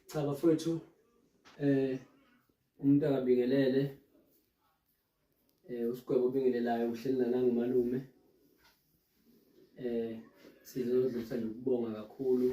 Cha bafowethu eh umuntu akabingelele eh usigwebo obingelelayo uhleli nana ngumalume eh sizodlulisa nje ukubonga kakhulu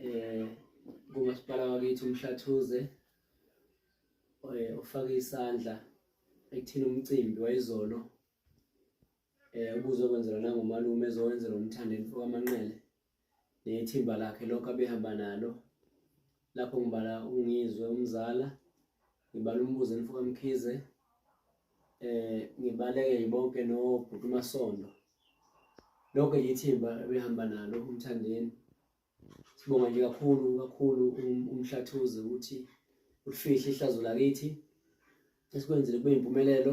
eh kumasipala wakithi umhlathuze eh ufake isandla ekuthini umcimbi wayizolo eh ubuzokwenzelwa nangomalume ezowenzelwa umthandeni owamanqele nethimba lakhe lokho abehamba nalo lapho ngibala ungizwe umzala ngibala umbuzo enifuka mkhize eh ngibaleke yibonke nobhuti umasondo lonke yithimba ebehamba nalo umthandeni sibonga nje kakhulu kakhulu um, umhlathuze ukuthi ulifihle ihlazo lakithi esikwenzile kube yimpumelelo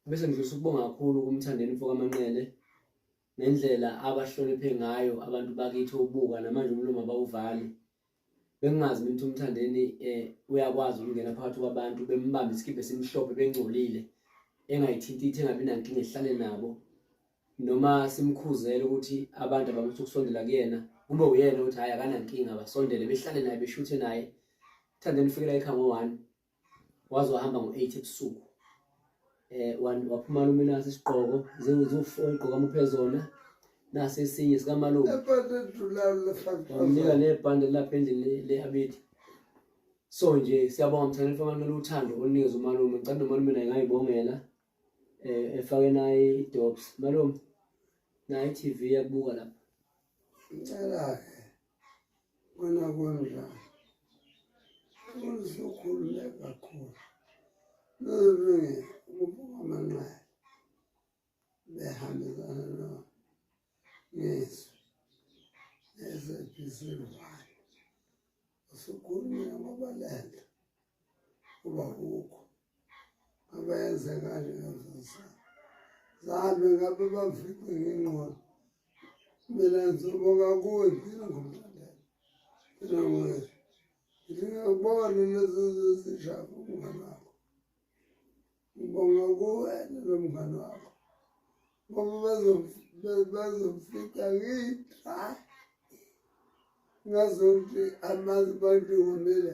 bese ngidlulisa ukubonga kakhulu kumthandeni mfoka manqele nendlela abahloniphe ngayo abantu bakithi obuka namanje umlomo abawuvali bengingazi mina ukuthi umthandeni um uyakwazi ukungena phakathi kwabantu bembambe isikibhe simhlophe bengcolile engayithinti ithi engabi nankinga ehlale nabo noma simkhuzele ukuthi abantu abamutha ukusondela kuyena kube uyena ukuthi hhayi akanankinga basondele behlale naye beshuthe naye thandeni ufikela ekhaya ngo-one waze wahamba ngo-eight ebusuku eh waphuma lume nasi isiqoko ziwu-four igqoka muphe zona nasi esinye sikamalume wamnika nebhande lapha endlini le-abidi so nje siyabonga mthandeni famantu luthando olunikeza umalume ngicela nomalume naye ngayibongela eh efake naye i-dops malume naye i-tv yakubuka lapha ngicela-ke wena kunjani usukhulume kakhulu nolunge ukubuka amanxeba behambisana no ngesu esephisivayo usukhulume ngoba lento uba kukho abenze kanje ngafisa zabe ngabe bafikwe ngengqondo mina ngizobonga kuwe phila ngomlandela phila ngoye ngingakubona lezo zizishaka umngane wakho ngibonga kuwena lo mngane wakho ngoba bazomfika ngiyithayi ngazokuthi amanzi bantu ngomile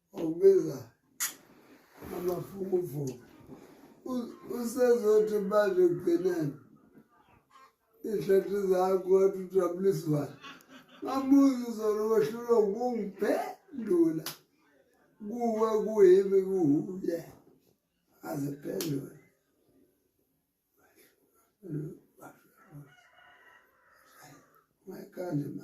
Ubiza amafukufuku. Usezothi manje kugcineni. Ihlathi zakho wathi ujabuliswayo. Ngabuza uzona wehlulwa ukungiphendula. Kuwe kuyimi kuwuye. Aziphendule. Thank you. my God, my.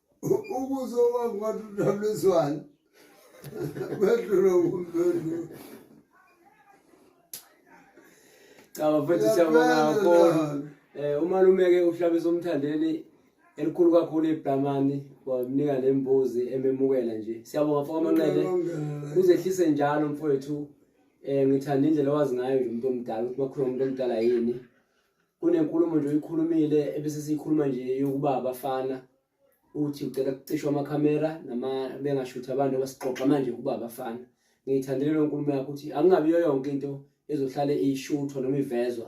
ukuzo wami ngathi udableswane bedlula kumpendula cha bafethu siyabonga kakhulu um eh, umalume-ke uhlabisa umthandeni elikhulu kakhulu ibhlamani wamnika le mbuzi ememukela nje siyabonga fo kwamanqele uzehlise njalo mfowethu um ngithanda indlela owazi ngayo nje umuntu omdala ukuthi bakhuluma umuntu omdala yini kunenkulumo nje oyikhulumile ebesesiyikhuluma nje yokuba abafana uthi ucela kucishwa amakhamera nama bengashuthi abantu abasixoxa manje ukuba abafana ngiyithandele lo nkulumo yakho ukuthi angingabiyo yonke into ezohlale ishuthwa noma ivezwa